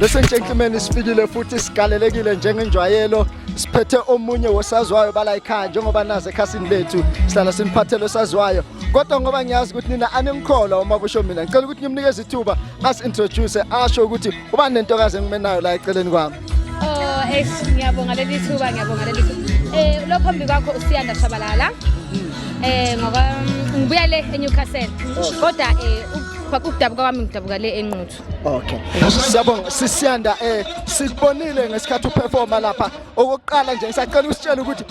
Listen gentlemen isifikile futhi sigalelekile njengenjwayelo siphethe omunye wosazwayo bala ekhaya njengoba nazi ekhasini lethu sihlala simphathele osaziwayo kodwa ngoba ngiyazi ukuthi nina animkholwa uma kusho mina ngicela ukuthi ngimnikeze ithuba as introduce asho ukuthi uba nentokazi engimenayo la eceleni kwami Oh, eish ngiyabonga leli thuba ngiyabonga leli thuba. Eh lo phambi kwakho usiyanda shabalala. Eh ngoba mm, ngibuya le eNewcastle. Kodwa eh ukwa- ukudabuka kwami ngidabuka le enquthu. Okay. Siyabonga sisiyanda eh sikubonile ngesikhathi uperforma lapha. Okokuqala nje ngisacela usitshela ukuthi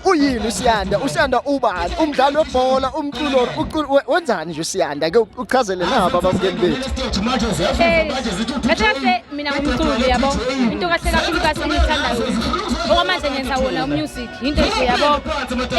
uyini usiyanda usiyanda ubani umdlali webhola umculo wenzani nje usiyanda ke uchazele nabo abamkeni bethu eh, mina umculi yabo into kahle kakhulu kahle engiyithandayo okwamanje ngenza wona umusic yinto nje yabo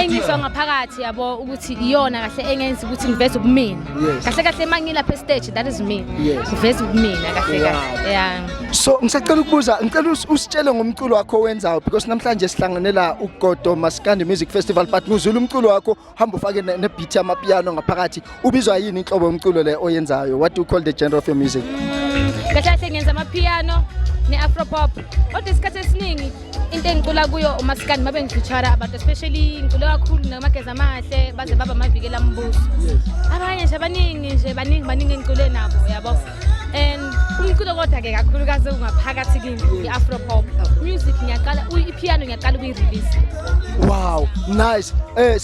engizwa ngaphakathi yabo ukuthi iyona kahle engenza ukuthi ngiveze ubumina kahle kahle mangilapha estage that is me ngiveze ubumina kahle kahle yeah So ngisacela ukubuza ngicela usitshele ngomculo wakho owenzayo because namhlanje sihlangene la uGodo Maskandi Music Festival but ngizula umculo wakho hamba ufake ne beat yama piano ngaphakathi ubizwa yini inhlobo yomculo le oyenzayo what do you call the genre of your music Kahle kahle ngenza ama piano ne afro pop kodwa isikhathi esiningi into engicula kuyo umasikandi mabe ngifeature abantu especially ngicula kakhulu namageza amahle baze baba mavikela ambuso abanye nje abaningi nje baningi baningi engicule nabo yabo and umculo kodwa ke kakhulukazi ungaphakathi kimi i-afro pop music ngiyaqala ipiano ngiyaqala ukuyirelease wow nice eh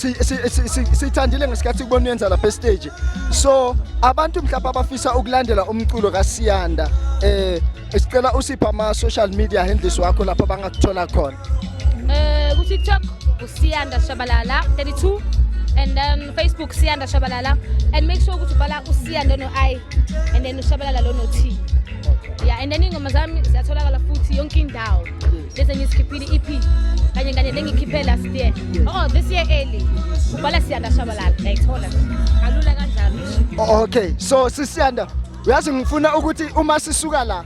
sithandile ngesikhathi kubona uyenza lapha estage so abantu mhlawumbe abafisa ukulandela umculo kaSiyanda eh sicela usipha ama social media handles wakho lapho bangakuthola khona Uh, ku TikTok usiyanda shabalala 32 and then Facebook siyanda shabalala and make sure ukuthi ubhala usiyanda no i and then ushabalala lo no t yeah and then ingoma zami ziyatholakala futhi yonke indawo lezi engizikhiphile EP kanye kanye lengikhiphe last year oh this year early ubhala siyanda shabalala ngayithola kalula kanjalo okay so sisiyanda uyazi ngifuna ukuthi uma sisuka la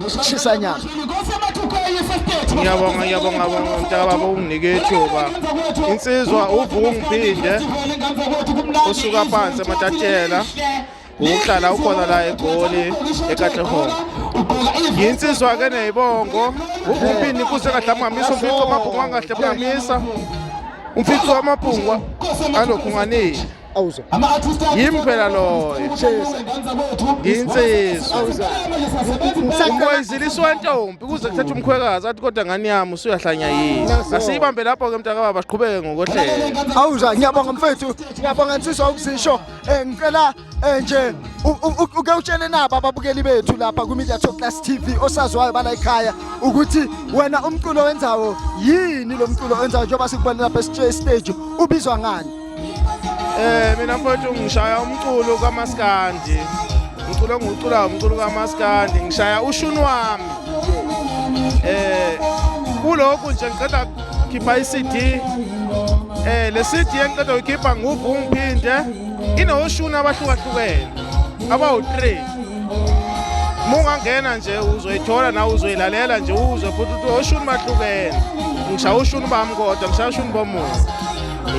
ngishisa nyama ngiyabonga ngiyabonga bonga mntakababa unginike ithuba insizwa uvungu ngiphinde usuka phansi ematatshela ukuhlala ukhona la egoli ekatlehong yinsizwa ke neyibongo uvumpini kuze kahle amhamisa umfico amabhungu angahle mhamisa umfico amabhungu alokhunganile awuzwa yimi phela loyo ngiyinsizwa umboyiziliswa wentombi kuze kuthethe umkhwekazi athi kodwa ngani yami usuyahlanya yini asiyibambe lapho-ke mntakababa siqhubeke ngokohlelo awuzwa ngiyabonga mfethu ngiyabonga nsizwa ukuzisho um ngicela um nje uke utshele nabo ababukeli bethu lapha kwimedia talk class tv osaziwayo bala ekhaya ukuthi wena umculo wenzawo yini lo mculo wenzawo njengoba sikubone lapha esiteji ubizwa ngani Eh mina mfowethu ngishaya umculo kamaskandi. Umculo engiwuculayo umculo kamaskandi ngishaya ushuni wami. Eh kulokhu nje ngiqeda khipha iCD. Eh le CD engiqeda uyikhipha nguvu ngiphinde inoshuni abahlukahlukene abawu-3 mungangena nje uzoyithola nawe uzoyilalela nje uzwe futhi ukuthi oshuni bahlukene ngishaye ushuni bami kodwa ngishaye ushuni bomuntu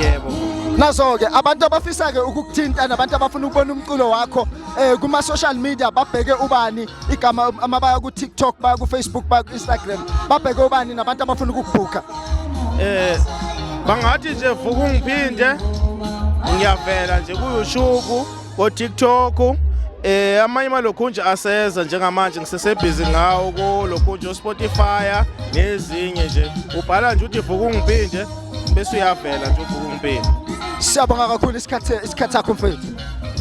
yebo nazo-ke abantu abafisa-ke ukukuthinta nabantu abafuna ukubona umculo wakho um kuma-social media babheke ubani igama ama baya ku-tiktok baya ku-facebook baya ku-instagram babheke ubani nabantu abafuna ukukubhukha um eh, bangathi nje vuka ungiphinde ngiyavela nje kuyushuku kotiktok um eh, amanye malokhunje aseza njengamanje ngisesebhizi ngawo kulokhunje ospotify nezinye nje ubhala nje uthi vuka ungiphinde bese uyavela nje uvuka umpilo siyabonga kakhulu isikhathi isikhathi sakho mfethu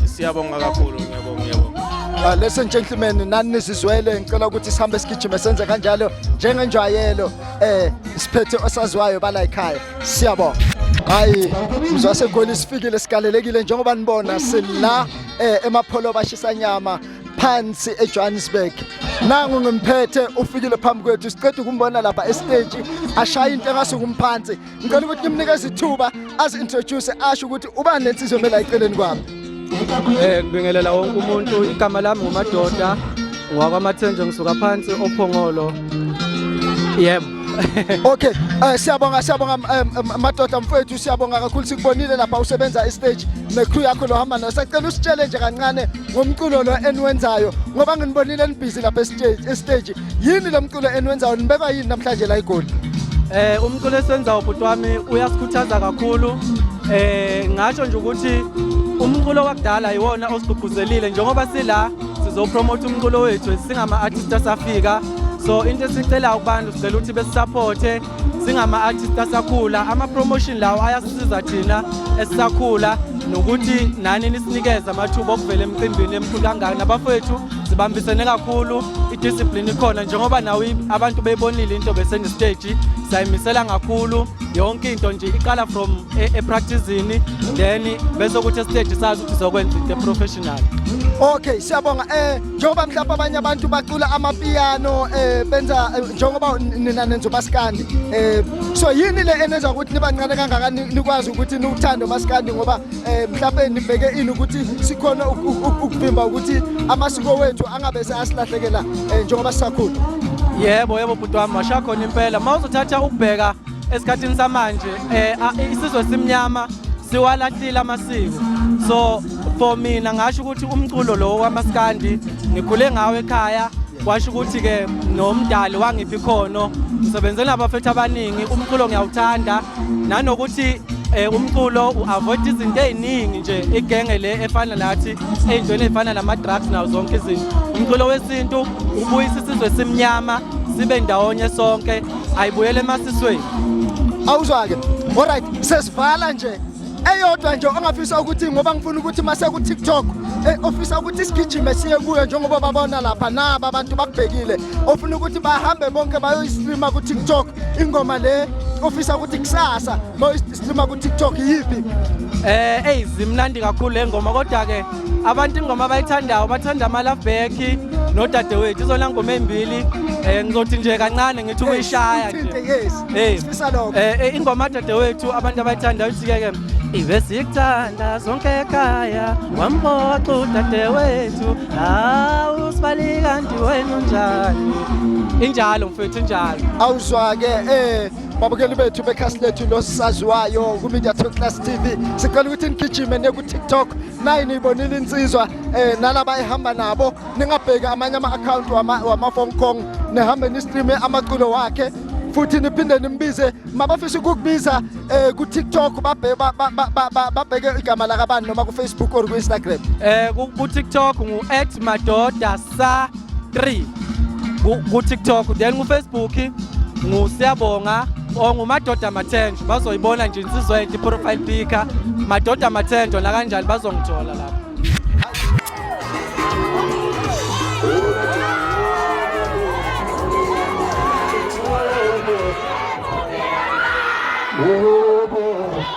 siyabonga kakhulu ngiyabonga ngiyabonga Uh, ladies and gentlemen nani nizizwele ngicela ukuthi sihambe sigijime senze kanjalo njengenjwayelo eh siphethe osaziwayo bala ekhaya siyabonga hayi mzwase goli sifikile sikalelekile njengoba nibona sila eh emapholo bashisa nyama phansi eJohannesburg nangu ngimphethe ufikile phambi kwethu siqeda ukumbona lapha estage ashaya into engasukumphansi ngicela ukuthi nimnikeze ithuba azi introduce asho ukuthi ubani lensizwe mela iceleni kwami eh ngibingelela wonke umuntu igama lami ngumadoda ngwakwamathenje ngisuka phansi ophongolo yebo okay uh, siyabonga siyabonga um, madoda mfowethu siyabonga kakhulu sikubonile lapha usebenza istage necrew yakho lohamba nayo sacela usitshele nje kancane ngomculo lo eniwenzayo ngoba nginibonile nibhizi lapha estage yini lo mculo eniwenzayo nibekwa yini namhlanje la igoli eh umculo esiwenzayo bhuti wami uyasikhuthaza kakhulu eh ngasho nje ukuthi umculo wakudala yiwona osigqugquzelile njengoba sila sizopromotha umculo wethu singama-artist asafika so into esicelayo kubantu sicela ukuthi besisapothe singama-artist asakhula ama-promotion lawo ayasisiza thina esisakhula nokuthi nani nisinikeze amathuba okuvela emcimbini emkhulu kangaka nabafowethu sibambisene kakhulu idiscipline ikhona njengoba nawe abantu beyibonile into besengesteji sayimisela kakhulu yonke into nje iqala from e, epracticini then bese ukuthi esiteji sazi ukuthi sokwenza into eprofessional okay siyabonga eh njengoba mhlawumbe abanye abantu bacula amapiyano eh benza eh, njengoba nina nenza umaskandi eh so yini le enenza ukuthi nibancane kangaka nikwazi ukuthi niwuthande umaskandi ngoba eh mhlawumbe nibheke ini ukuthi sikhona ukuvimba ukuthi amasiko wethu angabe seyasilahlekela eh, njengoba sisakhula yebo yebo bhuti wami washakhona impela mawuzothatha ukubheka esikhathini samanje eh isizwe simnyama siwalahlile amasiko so for mina ngasho ukuthi umculo lo wamaskandi ngikhule ngawo ekhaya washo ukuthi ke nomdali wangiphi khono ngisebenzela abafethu abaningi umculo ngiyawuthanda nanokuthi eh umculo uavoid izinto eziningi nje igenge le efana nathi ezintweni ezifana nama drugs nawo zonke izinto umculo wesintu ubuyisa isizwe simnyama sibe ndawonye sonke ayibuyele emasisweni awuzwake alright sesivala nje eyodwa nje ongafisa ukuthi ngoba ngifuna ukuthi mase ku TikTok eh, ofisa ukuthi sigijime siye kuyo njengoba babona lapha naba abantu bakubhekile ofuna ukuthi bahambe bonke bayoyistreama ku TikTok ingoma le ofisa ukuthi kusasa bayoyistreama ku TikTok yipi eh hey zimnandi kakhulu lengoma kodwa ke abantu ingoma abayithandayo bathanda amalafbeki nodadewethu izona ngoma ey'mbili um ngizothi nje kancane ngithi ukuyishaya nje um ingoma dadewethu abantu abayithandayo uthike-ke ibe sikuthanda zonke ekhaya wamboxa udadewethu hawu sibali kanti wena unjani injalo mfethu injalo awuzwa-ke um babukeli bethu bekhasi lethu losisaziwayo kumedia to class tv sicela ukuthi nigijime neku-tiktok naye niyibonile insizwa um eh, nalaba ehamba nabo ningabheki amanye ama-akhawunti wama-hong kong nihambe nistreame amaculo wakhe futhi niphinde nimbize mabafisa ukukubiza eh ku-tiktok babheke igama lakabani noma ku-facebook or ku-instagram eh ku-tiktok ngu-at madoda sa 3 ku TikTok then ku Facebook ngu Siyabonga or ngu Madoda Mathenjo bazoyibona nje insizwa yethu profile picker Madoda Mathenjo la kanjani bazongithola lapho Whoa.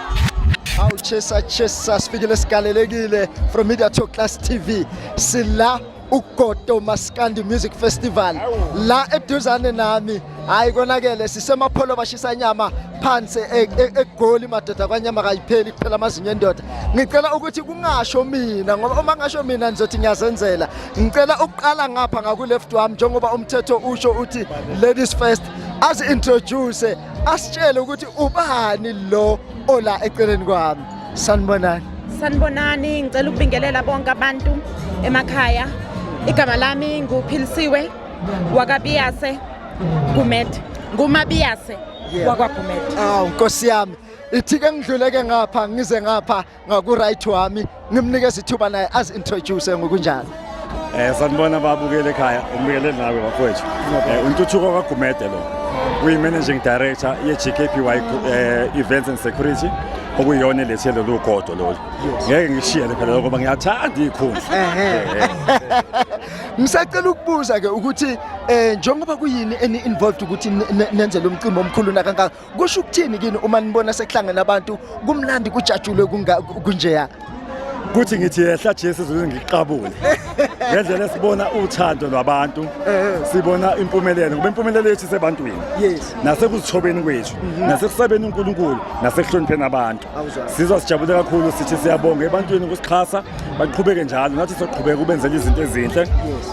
Awu chesa chesa sifikile sigalelekile from Media Talk Class TV. Sila uGodo Maskandi Music Festival la eduzane nami hayi konakele sisemapholo bashisa nyama phansi e- e- egoli madoda kwanyama kayipheli kuphela amazinyo endoda ngicela ukuthi kungasho mina ngoba uma ngasho mina ngizothi ngiyazenzela ngicela ukuqala ngapha ngaku left wami njengoba umthetho usho uthi ladies first azi introduce asitshele ukuthi ubani lo ola eceleni kwami sanibonani sanibonani ngicela ukubingelela bonke abantu emakhaya igama lami nguphilisiwe wakabiyase gumet ngumabiyase wakwagumede awu nkosi yami ithike ngidluleke ngapha ngize ngapha ngaku-right wami ngimnikeza ithuba naye azi-introduce ngokunjalo Eh sanibona babukele ekhaya umbukele nawe bafowethu. Eh untuthuko kaGumede lo. Uyi managing director ye GKPY eh, Events and Security okuyona lethe lolu godo lolu. Ngeke ngishiyele phela ngoba ngiyathanda ikhundla. Eh, eh. Ngisacela ukubuza ke ukuthi eh njengoba kuyini eni involved ukuthi nenze lo mcimbi omkhulu nakangaka kusho ukuthini kini uma nibona sekuhlangene abantu kumlandi kujatshulwe kunjeya kuthi ngithi yehla Jesu ukuze ngiqabule ngendlela esibona uthando lwabantu eh. sibona impumelelo ngoba impumelelo yethu isebantwini nasekuzithobeni kwethu mhm. nasekusabeni uNkulunkulu nasekuhlonipheni abantu sizwa sijabule kakhulu sithi siyabonga ebantwini ukusixhasa baqhubeke njalo nathi soqhubeka ubenzela izinto ezinhle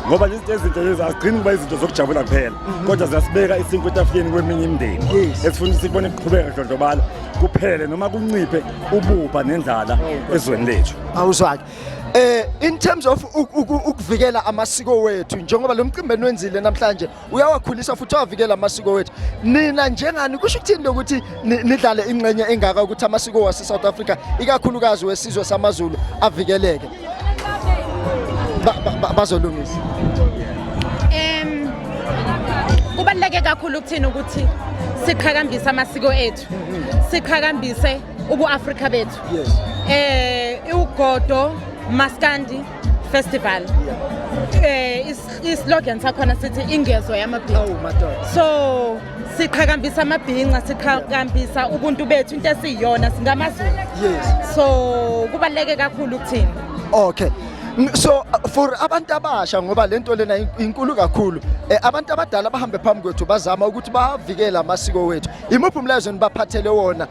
ngoba lezi zinto ezinhle lezi azigcini kuba izinto zokujabula kuphela mhm. kodwa ziyasibeka isinkwa etafuleni kweminye imindeni esifuna ukuthi sibone kuqhubeka dlondlobala kuphele noma kunciphe ububha nendlala oh, ezweni lethu awuzwake eh in terms of ukuvikela amasiko wethu njengoba lo mcimbi enwenzile namhlanje uyawakhulisa futhi uyavikela amasiko wethu nina njengani kusho ukuthini lokuthi nidlale ingxenye engaka ukuthi amasiko wase-south africa ikakhulukazi wesizwe samazulu avikeleke bazolungisa um kubaluleke kakhulu ukuthini ukuthi siqhakambise amasiko ethu siqhakambise ubu-afrika bethu um iwugodo maskandi festival eh islogan sakhona sithi ingezo yamabhinca oh madoda so siqhakambisa amabhinca siqhakambisa ubuntu bethu into esiyiyona singamazulu yes so kubaleke kakhulu ukuthini okay so for abantu abasha ngoba lento lena inkulu kakhulu eh, abantu abadala bahambe phambi kwethu bazama ukuthi bavikele amasiko wethu Imuphi umlayezo nibaphathele wona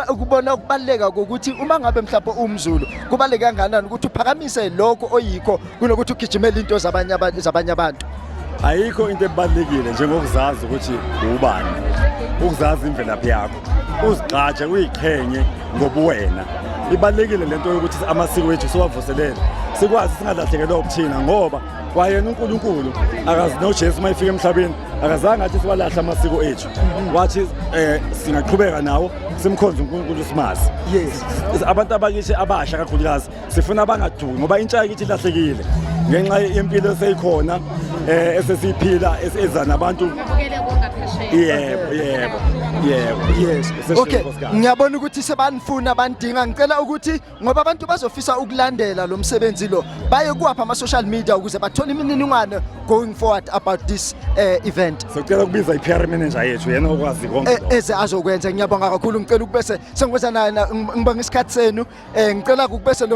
ukubona ukubaleka kokuthi uma ngabe mhlawumbe uwumzulu kubaleke kanganani ukuthi uphakamise lokho oyikho kunokuthi ugijimele into zabanye abantu zabanye abantu ayikho into ebalekile njengokuzazi ukuthi ubani ukuzazi imvelaphi yakho uzigxatshe uyiqhenye ngobuwena ibalekile lento yokuthi amasiko wethu siwavuselele sikwazi singalahlekelwa ukuthina ngoba kwayena uNkulunkulu akazi noJesu mayifika emhlabeni akazange athi siwalahla amasiko ethu wathi eh singaqhubeka nawo simkhonze uNkulunkulu simazi yes abantu abakithi abasha kakhulukazi sifuna abangaduki ngoba intsha yakithi ilahlekile ngenxa yempilo eseyikhona eh esesiphila eza nabantu yebo yebo yebo yes okay ngiyabona ukuthi sebanifuna bandinga ngicela ukuthi ngoba abantu bazofisa ukulandela lo msebenzi lo baye kuwapha ama-social media ukuze bathole imininingwane going forward about this uh, event sicela ukubiza i-pr manager yethu yena okwazi konke eh, eze azokwenza ngiyabonga kakhulu ngicela ukubese sengikwenza naye ngibonga isikhathi senu um ngicela ukubese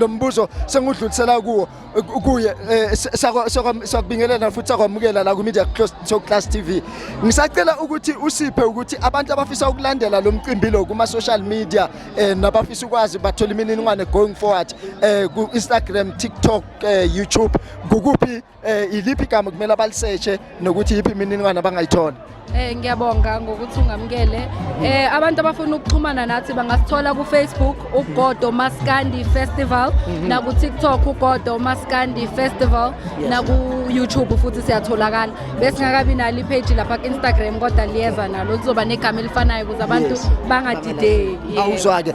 lo mbuzo sengudlulisela kuwo kuye eh, sakubingelela futhi sakwamukela la ku-media close to class tv ngisacela ukuthi usiphe ukuthi abantu abafisa ukulandela lo mcimbi lo kuma-social media um nabafisa ukwazi bathola imininingwane going forward um ku-instagram tiktok um youtube kukuphi um iliphi igama kumele abaliseshe nokuthi yiphi imininingwane abangayithola Eh ngiyabonga ngokuthi ungamukele. Eh abantu abafuna ukuxhumana nathi bangasithola ku Facebook uGodo Maskandi Festival mhm. na ku TikTok uGodo Maskandi Festival na ku YouTube futhi siyatholakala. Bese ngakabi nali page lapha ku Instagram kodwa liyeza nalo lizoba negama elifanayo ukuze abantu bangadideki. Awuzwake.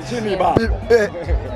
Eh,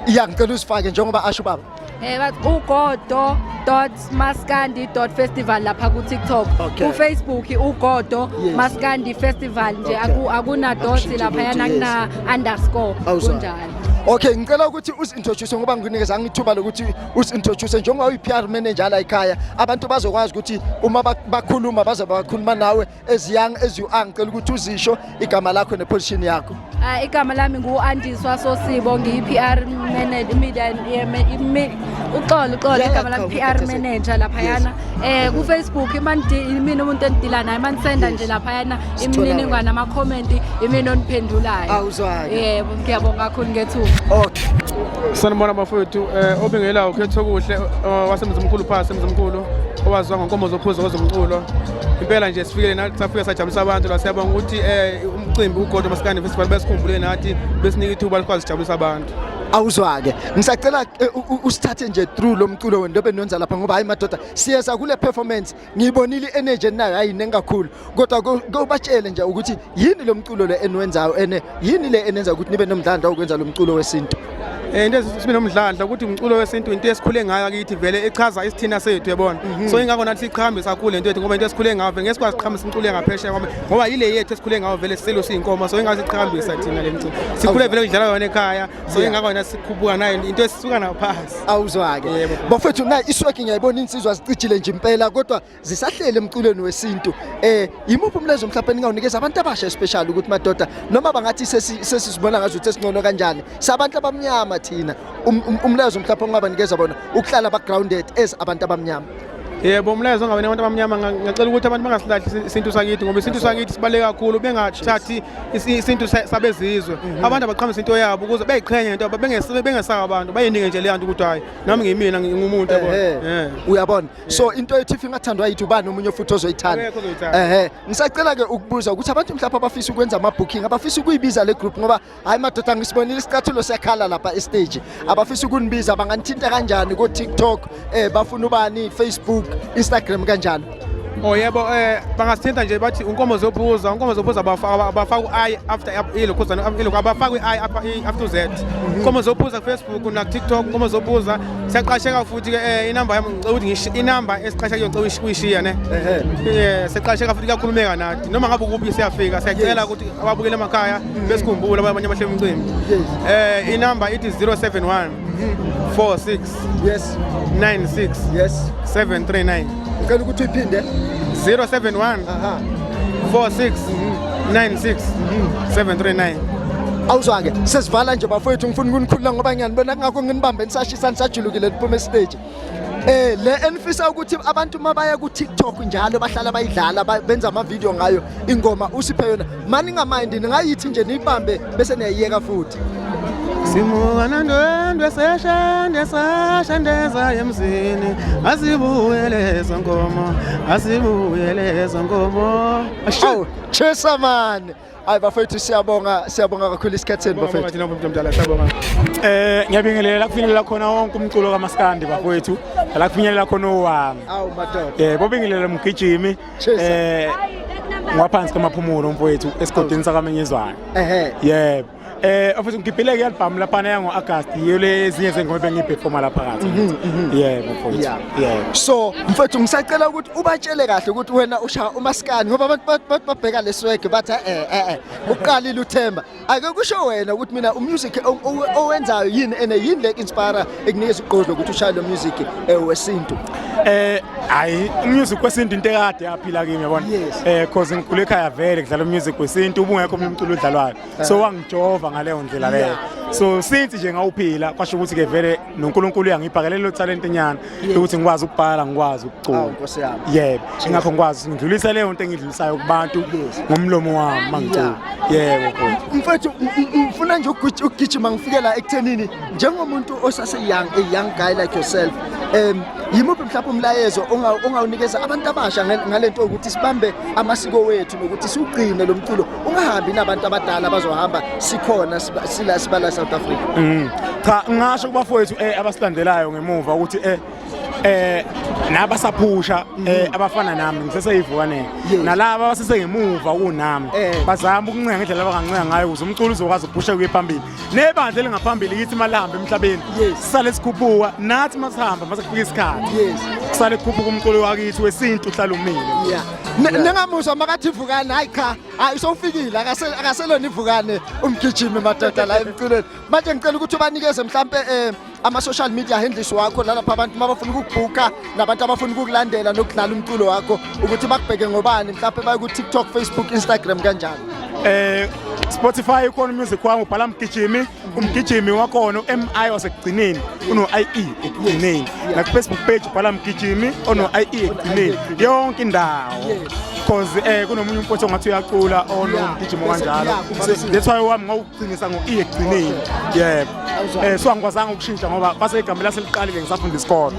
iya ngicela usifake njengoba asho baba. Eh bathi ugodo dot maskandi dot festival lapha ku TikTok okay. ku Facebook ugodo yes. maskandi festival nje okay. akuna dot lapha yana kuna underscore kunjalo Okay ngicela ukuthi usintroduce ngoba nginikeza ngithuba lokuthi usintroduce njengoba uyi PR manager la ekhaya abantu bazokwazi ukuthi uma bakhuluma bazoba bakhuluma nawe as young as you are ngicela ukuthi uzisho igama lakho neposition yakho uh, igama lami ngu-andiswa sosibo ngiyi-pr media uxolo uxolo igama lami pr manager laphayana um eh, kufacebook imina umuntu endidila naye uma nisenda nje laphayana imininingwane amakhomenti imina oniphendulayo awuzwayo yebo ngiyabonga kakhulu ngethuba okay sanibona bafowethu um eh, obingelawo ukhetho okuhle eh, wasemzimkhulu phasi emzimkhulu owaziwa ngonkomo zophuzo kwezomculo impela nje sifikele nathi safika sajabulisa abantu la siyabonga ukuthi um umcimbi ugodo masikane festival besikhumbule nathi besinika ithuba likwazi sijabulisa abantu awuzwake ngisacela eh, usithathe nje through lo mculo wenu lobe nonza lapha ngoba hayi madoda siyeza kule performance ngiyibonile energy nayo hayi nengakhulu kodwa kobatshele nje ukuthi yini lo mculo le eniwenzayo ene yini le enenza ukuthi nibe nomdlandla ukwenza lo mculo wesintu Eh, into esibe nomdlandla ukuthi umculo wesintu into esikhule ngayo akithi vele echaza isithina sethu yabona mhm. so ingakho nathi siqhambe sakhule into yethu ngoba into esikhule ngayo vele ngeke sikwazi siqhambe sincule ngaphesheya kwami ngoba yile yethu esikhule ngayo vele sisilo siyinkomo so ingase siqhambisa thina le mculo sikhule vele kudlala yona ekhaya so ingakho yona sikhubuka nayo into esisuka nayo phasi awuzwake bafethu na isweki ngiyayibona insizwa zicijile nje impela kodwa zisahlele emculweni wesintu eh yimuphi umlezo mhlawumbe ningawunikeza abantu abasha especially ukuthi madoda noma bangathi sesizibona ngazo ukuthi singcono kanjani sabantu abamnyama thina um, um, umlezo mhlawumbe ongabanikeza bona ukuhlala ba grounded as abantu abamnyama yebo umlayezo ongabene abantu abamnyama ngicela ukuthi abantu bangasilahli isintu sakithi ngoba isintu sakithi sibaluleke kakhulu bengathathi isintu sabezizwe mhm. abantu abaqhamise into yabo ukuze beyiqhenye into bengesaba abantu bayinike nje leyanto ukuthi hayi nami ngiyimina ngingumuntu uyabona so into ethi if ingathandwa yithi ubani omunye futhi ozoyithanda ehe ngisacela ke ukubuza ukuthi abantu mhlawumbe abafisa ukwenza ama booking abafisa ukuyibiza le group ngoba hayi madoda ngisibonile isicathulo siyakhala lapha e stage abafisa ukunibiza banganithinta kanjani ko TikTok eh bafuna ubani Facebook Instagram kanjani Oh yebo eh bangasithinta nje bathi unkomo zobuza unkomo zobuza abafaka u-i after ilo khuzana ilo abafaka i-i after u-z unkomo zobuza kufacebook nakutiktok unkomo zobuza siyaqasheka futhi ke eh, inamba yami ngicela ukuthi ngisho inamba esiqasha kuyo ngicela uyishiya ne eh siyaqasheka futhi kuyakhulumeka nathi noma ngabe ukuphi siyafika siyacela ukuthi ababukele emakhaya mm. besikhumbule abanye abahle umcimbi eh inamba ithi 071 46 yes 96 yes 739 ngicela ukuthi uyiphinde 071 aha 46 96 739 awuzwake sesivala nje bafowethu ngifuna ukunikhulula ngoba ngiyanibona kungakho nginibambe nisashisa nisajulukile niphuma esiteji Eh le enifisa ukuthi abantu mabaye ku TikTok njalo bahlala bayidlala ba- benza ama video ngayo ingoma usiphe yona maningamind ningayithi nje niyibambe bese niyayiyeka futhi simuka nandwendwe seshende sashendeza emzini asibuyele zonkomo asibuyele zonkomo asho chesa mani hayi bafethu siyabonga siyabonga kakhulu isikhathi senu bafethu thina umuntu omdala siyabonga eh ngiyabingelela kufinyelela khona wonke umculo kamaskandi bafethu la kufinyelela khona owami awu madoda eh bobingelela mgijimi eh ngwaphansi kamaphumulo mfowethu esigodini sakamenyezwayo ehe yebo eh office ngigibhile ke album lapha na ngo August yiyo le zinye zengoma bengiperforma lapha kathi mhm, mhm. yebo mfowethu yebo so mfowethu ngisacela ukuthi ubatshele kahle ukuthi wena usha umaskani ngoba abantu babheka leswege bathi eh eh, eh uqalile uthemba ake kusho wena ukuthi mina umusic owenzayo yini and yini le inspire ekunikeza ugqozi ukuthi ushaye lo music eh, wesintu eh hayi umusic wesintu into ekade yaphila kimi yabona eh cause ngikhule ekhaya vele kudlala umusic wesintu ubungekho mina umculo odlalwayo so ah. wangijova ngaleyo ndlela leyo so since nje ngawuphila kwasho ukuthi ke vele nonkulunkulu uyangibhakela lelo talente nyana ukuthi ngikwazi ukubhala ngikwazi ukucula nkosi yami yebo ingakho ngikwazi ngidlulisa leyo nto engidlulisayo kubantu ngomlomo wami mangicula yebo mfethu ngifuna nje ukugijima ngifike la ekuthenini njengomuntu osase young a young guy like yourself um yimuphi mhlawumbe umlayezo ongawunikeza abantu abasha ngalento ukuthi sibambe amasiko wethu nokuthi siwugcine lo mculo ungahambi nabantu abadala bazohamba sikhona sila sibala South Africa mm. cha ngasho kubafowethu eh abasilandelayo ngemuva ukuthi eh eh nabasaphusha mhm. eh abafana nami ngiseseyivukaneni nalaba abasesengemuva kunami eh. bazama ukuncenga indlela abangancenga ngayo ukuze umculo uzokwazi ukuphusha kuye phambili nebandla elingaphambili yithi malihamba emhlabeni sisale sikhuphuka nathi masihamba mase kufika isikhathi kusale kukhuphuka umculo wakithi wesintu uhlala umile nengamusha makathi ivukane hayi cha hayi usowufikile akaselona ivukane umgijimi madoda la emculweni manje ngicela ukuthi ubanikeze mhlampe um ama-social media handles wakho nalapha abantu uma bafuna ukukubhuka nabantu abafuna ukukulandela nokudlala umculo wakho ukuthi bakubheke ngobani mhlawumpe baye ku-tiktok facebook instagram kanjalo eh Spotify ukhona umusic wami ubhala mgijimi umgijimi wakhona uMI wasekugcineni uno IE ekugcineni na Facebook page ubhala mgijimi ono IE ekugcineni yonke indawo because eh kunomunye umfowethu ongathi uyacula onomgijimo kanjalo that's why wami Qinisa ngo-e ekugcineni yebo um so angikwazanga ukushintsha ngoba base igama laseliqalile ngisafunda isikolo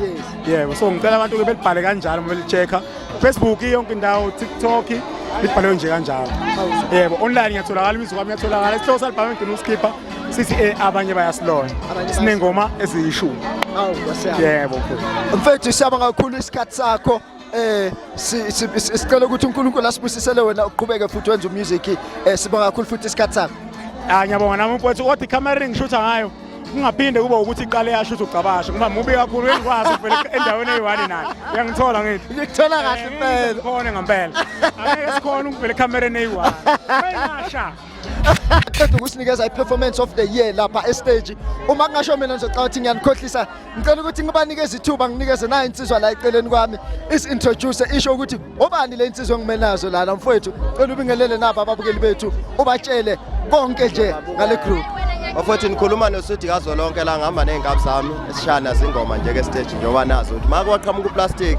yebo so ngicela abantu-ke belibhale kanjalo uma beli-check-a facebook yonke indawo tiktok libhalwe nje kanjalo yebo online ngiyatholakala imizwa kwami iyatholakala isihloko salibhame ngigcina usikhipha sithi e abanye bayasilona sinengoma eziyishumi yebo mfethu siyabonga kakhulu isikhathi sakho eh sicela ukuthi uNkulunkulu asibusisele wena uqhubeke futhi wenze umusic eh sibonga kakhulu futhi isikhathi sakho ah ngiyabonga nami mfowethu kodwa icamera engishutha ngayo kungaphinde kube ukuthi iqale yasho ukuthi ugcabashe ngoba mubi kakhulu uyangikwazi uvele endaweni eyi-one nayo uyangithola ngithi ngikuthola kahle impela khona ngempela angeke sikhona ukuvela ekhamereni eyi-one qeda ukusinikeza i-performance of the year lapha estage uma kungasho mina ngizocabanga ukuthi ngiyanikhohlisa ngicela ukuthi ngibanikeze ithuba nginikeze nayo insizwa la eceleni kwami isi-introduce isho ukuthi obani le nsizwa engime nazo lana mfowethu cela ubingelele nabo ababukeli bethu ubatshele konke nje ngale group bafowethu nikhuluma nosudi kazwelonke la ngihamba ney'nkabi zami esishana zingoma nje ke stage njengoba nazo ukuthi ma kwaqhamuka uplastic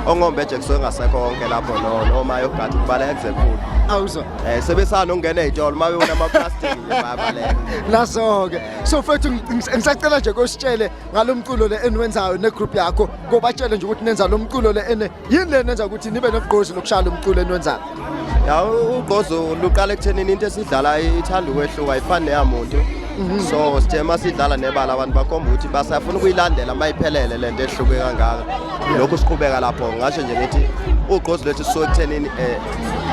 ongombe nje kusuke ngasekho konke lapho noma yogada ukubala ekuzekulu awuzwa Eh sebesana ungena ezitolo mabe unama plastic nje bayabaleka. Naso ke. So mfethu ngi- ngisacela nje kositshele ngalomculo le eniwenzayo ne group yakho kobatshele nje ukuthi nenza lomculo le ene yini le nenza ukuthi nibe nogqozi lokushaya lomculo eniwenzayo. Ya u- ugqozo luqala ekuthenini into esidlala ithanda ukwehluka ayifani neyamuntu. So sithe masidlala nebala abantu bakhomba ukuthi basafuna ukuyilandela mayiphelele lento ehluke kangaka. Lokhu siqhubeka lapho ngasho nje ngithi ugqozo lethu sisuke ekuthenini eh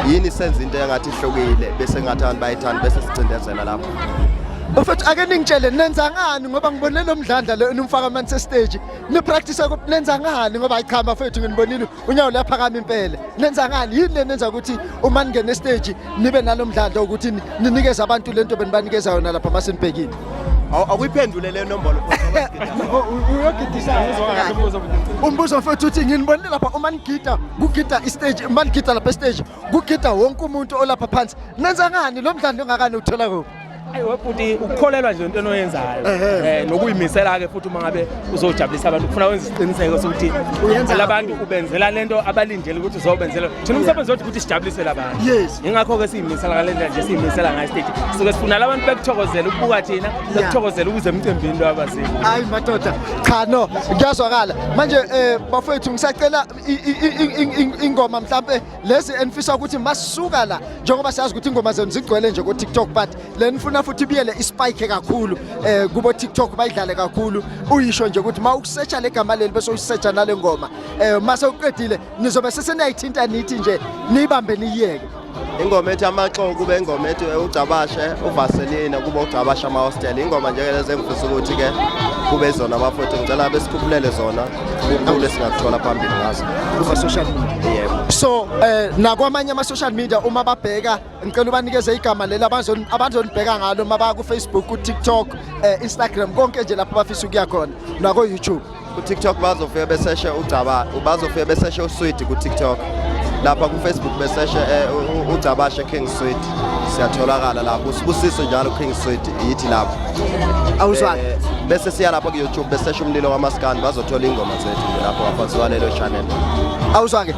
yini senza into engathi ihlukile bese ngathi abantu bayithanda bese sicindezela lapho Mfethu ake ningitshele nenza ngani ngoba ngibonile lo mdlandla lo enimfaka amanzi stage ni practice ukuthi nenza ngani ngoba ayichamba mfethu nginibonile unyawo laphakama impela nenza ngani yini lenenza ukuthi uma ningena stage nibe nalomdlandla ukuthi ninikeze abantu lento benibanikeza yona lapha masinibhekile awuyiphendule le nombolo umbuzo mfethu uthi nginibonile lapha uma nigida kugida istage uma nigida lapha estage kugida wonke umuntu olapha phansi nenza ngani lo mdlalo ongakani uthola kuphi ayi webhuti ukukholelwa nje into enoyenzayo eh nokuyimisela ke futhi uma ngabe uzojabulisa abantu kufuna wenza isiqiniseko sokuthi labantu ubenzela le nto abalindele ukuthi uzobenzela thina umsebenzi wethu ukuthi sijabulisele abantu yingakho-ke siyimisela ngale ndlela nje siyimisela ngayo stage suke sifuna la bantu bekuthokozela ukubuka thina bekuthokozela ukuze emcimbini lo abazini hayi madoda cha no kuyazwakala manje um bafowethu ngisacela ingoma mhlawumpe lezi enifisa ukuthi masisuka la njengoba siyazi ukuthi ingoma zenu zigcwele nje ko-tiktok but le nifuna futhi ibiyele ispike kakhulu um kubo-tiktok bayidlale kakhulu uyisho nje ukuthi ma ukusetsha le gama leli bese uyisetsha nale ngoma um eh, ma sewuqedile nizobe seseniyayithinta nithi nje niyibambe niyiyeke ingoma ethi amaxoko kube ingoma ethi ugcabashe uvaselina kube ugcabashe amahostela ingoma njeke lezi engifisa ukuthi-ke kube zona bafowethu ngicela besikhuphulele zona kukhulu esingakuthola phambili ngazo kuma-social media yebo so um eh, nakwamanye ama-social media uma babheka ngicela ubanikeze igama leli abazonibheka ngalo uma baya kufacebook kutiktok um eh, instagram konke nje lapho bafisa ukuya khona nakoyoutube kutiktok bazofika beseshe ugcaba bazofika beseshe uswidi kutiktok lapha kufacebook beseshe um eh, ugcabashe king swidi siyatholakala lapho usibusiso njalo king sweet yithi lapho awuzwani eh, bese siya lapho ku-youtube besesha umlilo wamaskani bazothola iy'ngoma zethu nje lapho ngaphansi kwalelo channel awuzwa-ke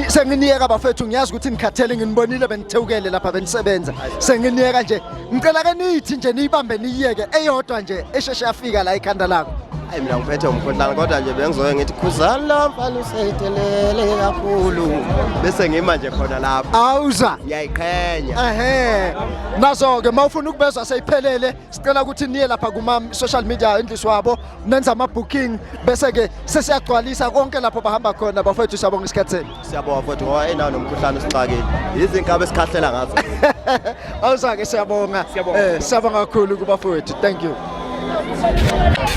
senginiyeka bafethu ngiyazi ukuthi nikhathele nginibonile benithewukele lapha benisebenza senginiyeka nje ngicela ke niyithi nje niyibambe niyiyeke eyodwa nje esheshe yafika la ikhanda lakho ayi mina ngiphethe umkhohlane kodwa nje bengizoke ngithi khuzani la mfana usedelele kakhulu bese ngima nje khona lapho awuza uyayiqhenya ehe nazo ke mawufuna ukubezwa seyiphelele sicela ukuthi niye lapha kuma social media endlisi wabo nenza ama booking bese ke sesiyagcwalisa konke lapho bahamba khona bafethu siyabonga isikhathi senu siyabonga futhi ngoba enawo nomkhuhlane usixakile izinkaba esikhahlela ngazo awuzake siyabonga eh siyabonga kakhulu kubafethu thank you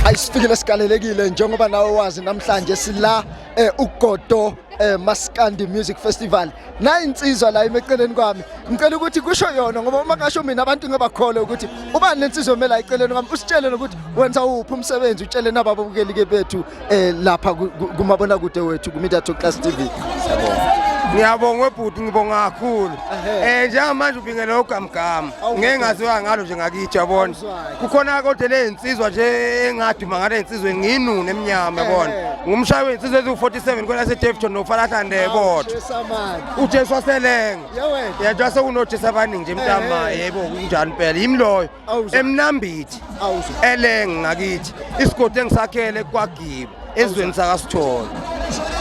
ayisifikile sikalelekile njengoba nawe wazi namhlanje sila eh uGodo eh Maskandi Music Festival nayi insizwa la emeceleni kwami ngicela ukuthi kusho yona ngoba uma kasho mina abantu ngebakhole ukuthi ubani lensizwa emela eceleni kwami usitshele ukuthi wenza uphi umsebenzi utshele nababukeli ke bethu eh lapha kumabona kude wethu ku Media Talk Class TV ngiyabonga webhuti ngibonga kakhulu eh njengamanje ubingele ugamgama ngeke ngaziwa ngalo nje ngakithi yabona kukhona kodwa lezinsizwa nje engaduma ngale insizwe nginune emnyama yabona ngumshayi wezinsizwe eziwu-47 kwela sedevton nofalahlande bodwa ujesu waselenga yedwa sekunojesi abaningi nje mntama yebo kunjani impela yimi loyo emnambithi elenge ngakithi isigodi engisakhele kwagiba ezweni sakasithole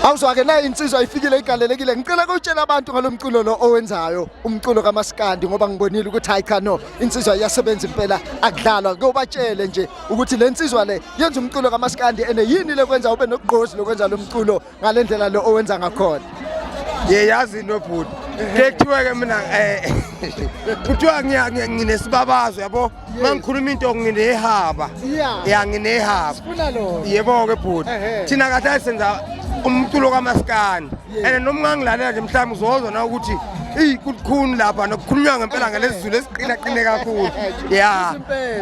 awuzwake na insizwa ifikile igalelekile ngicela kutshela abantu ngalomculo lo owenzayo umculo kamaskandi ngoba ngibonile ukuthi hayi cha no insizwa iyasebenza impela akudlalwa kuyobatshele nje ukuthi le nsizwa le yenza umculo kamaskandi ene yini lekwenza ube nokugqozi lokwenza lo mculo ngale ndlela lo owenza ngakhona yeyazi into bhuti ke kuthiwe-ke mina um kuthiwa nginesibabazo yabo uma ngikhuluma into nginehaba ya nginehaba yebo-ke bhuti thina kahle senza umculo kamaskandi and noma ungangilalela nje mhlawumbe uzozwa na ukuthi eyi kulikhuni lapha nokukhulunywa ngempela ngalezi zulu eziqinaqine kakhulu ya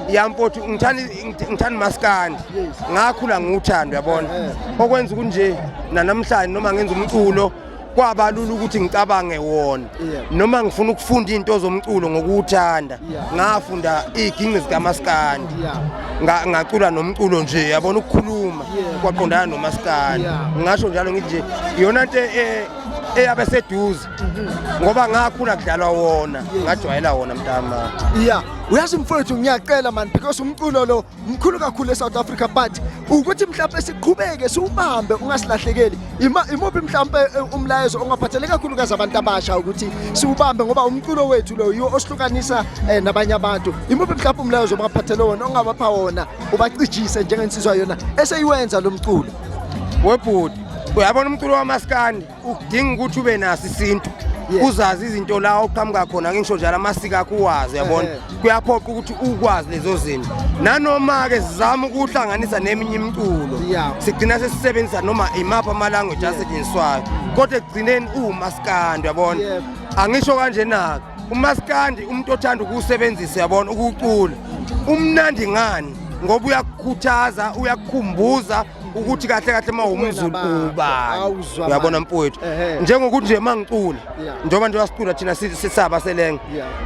ya mfowethu ngithanda umaskandi ngakhula ngiwuthando yabona okwenza ukuthi nje nanamhlanje noma ngenza umculo kwabalula ukuthi ngicabange wona noma ngifuna ukufunda into zomculo ngokuthanda ngafunda iginqi zikamaskandi ngacula nomculo nje yabona ukukhuluma kwaqondana nomaskandi ngasho njalo ngithi nje iyona nto e, eyabe seduze mhm. ngoba ngakhula kudlalwa wona ngajwayela wona mntama ya uyazi mfowethu ngiyacela mani because umculo lo mkhulu kakhulu eSouth Africa but ukuthi mhlawumbe siqhubeke siwubambe ungasilahlekeli imuphi mhlawumbe eh, umlayezo ongaphathele kakhulu kaze abantu abasha ukuthi siwubambe ngoba umculo wethu lo yiwo osihlukanisa eh, nabanye abantu imuphi mhlawumbe umlayezo ongaphathele wona ongabapha wona ubacijise njengensizwa yona eseyiwenza lo mculo webhuti uyabona umculo wamaskandi ukudinga ukuthi ube naso isintu uzazi izinto la oqhamuka khona ngisho njalo amasiko akho uwazi yabona kuyaphoqa ukuthi ukwazi lezo zinto nanoma-ke sizama ukuhlanganisa neminye imiculo sigcina sesisebenzisa noma imaphi amalanguage asetshenziswayo kodwa ekugcineni uwumasikandi yabona angisho kanjena-ke umasikandi umuntu othanda ukuwusebenzisa yabona ukuwucula umnandi ngani ngoba uyakukhuthaza uyakukhumbuza ukuthi kahle kahle uma umzulu ubani uyabona mfowethu njengokuthi nje mangicula njengoba nje wasicula thina sisaba selenge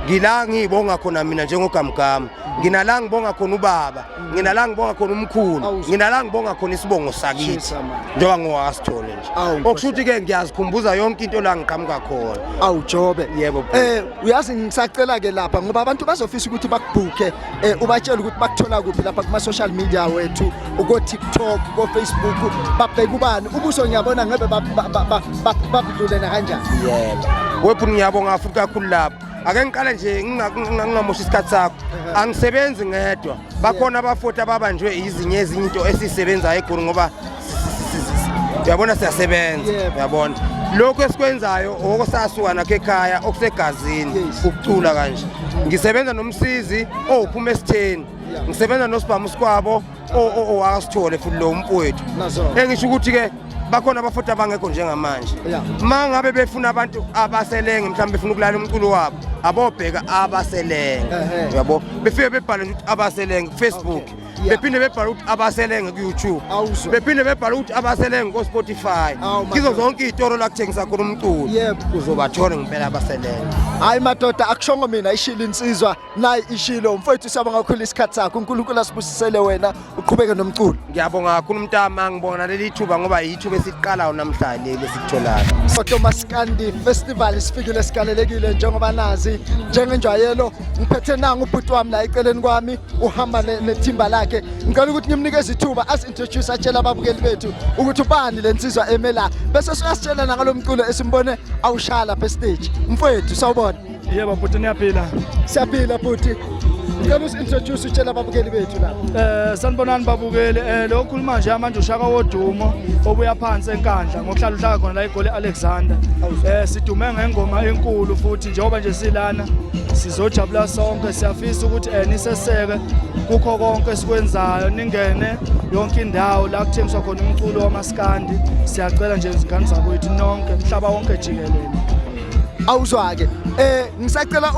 ngila ngiyibonga khona mina njengogamgama mm. nginala ngibonga khona ubaba mm. nginala ngibonga khona umkhulu nginala ngibonga khona isibongo sakithi njengoba ngowasithole nje okusho ukuthi ke ngiyazikhumbuza yonke into la ngiqhamuka khona awujobe yebo eh uyazi ngisacela ke lapha ngoba abantu bazofisa ukuthi bakubhuke eh, ubatshela ukuthi bakuthola kuphi lapha kuma social media wethu uko TikTok ko Facebook babheka ubani ubuso ngiyabona ngebe babudlule na kanjani yebo webhu ngiyabonga futhi kakhulu lapho ake ngiqale nje ngingamoshi isikhathi sakho angisebenzi ngedwa bakhona abafoti ababanjwe izinye ezinye into esisebenzayo egoli ngoba uyabona siyasebenza uyabona lokhu esikwenzayo okosasuka nakho ekhaya okusegazini ukucula kanje ngisebenza nomsizi owuphuma esitheni ngisebenza nosibhamu sikwabo owakasithole futhi lo mfowethu engisho ukuthi-ke bakhona abafuthi abangekho njengamanje ma ngabe befuna abantu abaselenge mhlawumbe befuna ukulala umculo wabo abobheka abaselenge yabo befike bebhale ukuthi abaselenge kufacebook bephinde bebhala ukuthi abaselenge ku-youtube bephinde bebhala ukuthi abaselenge ko-spotify kizo zonke iy'toro la kuthengisa khona umculo uzobathole ngempela abaselenge hayi madoda akushongo mina ishilo insizwa nayi ishilo mfowethu siyabonga kakhulu isikhathi sakho unkulunkulu asibusisele wena uqhubeke nomculo ngiyabonga kakhulu umntama ngibona leli thuba ngoba yithuba esiqalayo namhlanje leli esikutholayo sotomaskandi festival sifikile sigalelekile njengoba nazi njengenjwayelo ngiphethe nanga ubhuti wami la eceleni kwami uhamba nethimba lakhe ngicela ukuthi ngimnikeze ithuba asintroduce atshela ababukeli bethu ukuthi ubani le nsizwa emela bese siyasitshela nangalo mculo esimbone awushaya lapha estage mfowethu sawubona yebo bhuti niyaphila siyaphila bhuti ngicela usintroduce utshela ababukeli bethu lapha eh sanibonani babukeli eh lo khuluma nje manje ushaka wodumo obuya phansi enkandla ngokuhlala uhlaka khona la egoli Alexander eh sidume ngengoma enkulu futhi njengoba nje silana sizojabula sonke siyafisa ukuthi eh, niseseke kukho konke esikwenzayo ningene yonke indawo la kuthengiswa khona umculo wamaskandi siyacela nje izingane zakwethu nonke mhlaba wonke jikelele awuzwake eh ngisacela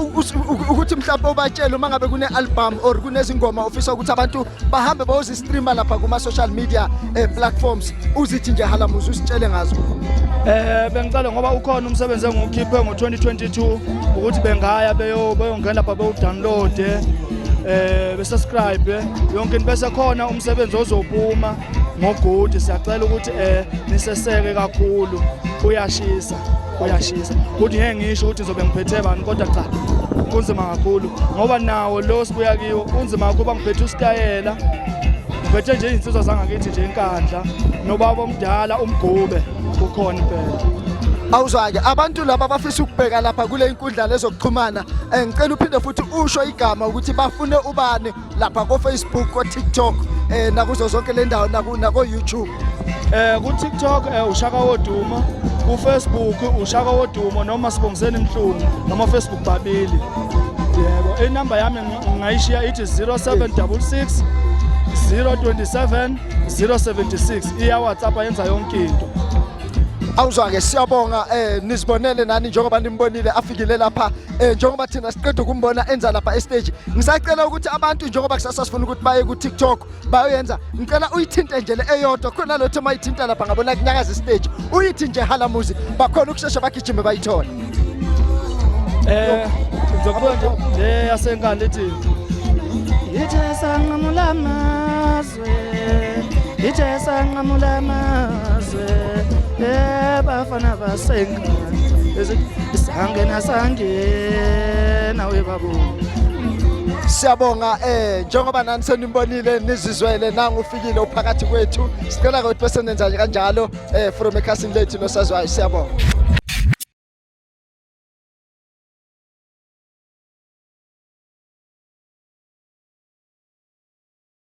ukuthi mhlawumbe ubatshele uma ngabe kune album or kunezingoma ofisa ukuthi abantu bahambe bayozistreama lapha kuma-social media eh, platforms uzithi nje halamuzi usitshele ngazo Eh bengicela ngoba ukhona umsebenzi engiwukhiphe ngo-2022 ukuthi bengaya beyongena lapha bewudownloade eh besubscribe yonke into bese khona umsebenzi ozopuma ngogudi siyacela ukuthi eh niseseke kakhulu uyashisa uyashisa ukuthi ngeke ngisho ukuthi ngizobe ngiphethe bani kodwa cha kunzima kakhulu ngoba nawo lo sibuya kiwo kunzima kakhulu ngiphethe usitayela ngiphethe nje izinsizwa zangakithi nje inkandla nobaba omdala umgube ukhona impela awuzwake abantu laba bafisa ukubheka lapha kule nkundla lezokuxhumana eh, ngicela uphinde futhi usho igama ukuthi bafune ubani lapha kofacebook kotiktok um nakuzo zonke le ndawo nakoyoutube um kutiktok um ushaka wodumo kufacebook ushaka wodumo noma sibongiseni mhlungu namafacebook babili yebo inamba yami ngingayishiya ithi 0766 027 076 iyawhatsapp yenza yonke into awuzwa-ke siyabonga um nizibonele nani njengoba nimbonile afikile lapha eh njengoba thina siqeda ukumbona enza lapha estage ngisacela ukuthi abantu njengoba kusasa sifuna ukuthi baye ku TikTok bayoyenza ngicela uyithinte nje le eyodwa khona lotho mayithinta lapha ngabona kunyakaza istage uyithi nje hala muzi bakhona ukushesha bagijime bayithole eh ngizokubuka nje le yasenkandla ethi yithi sanqamula amazi iJesu anqamula amazwe ebafana eh, basengane sangena sangena webabo siyabonga eh njengoba nani senimbonile nizizwele nangu ufikile uphakathi kwethu sicela ukuthi bese nenza kanjalo eh from ekhasini lethu losazwayo siyabonga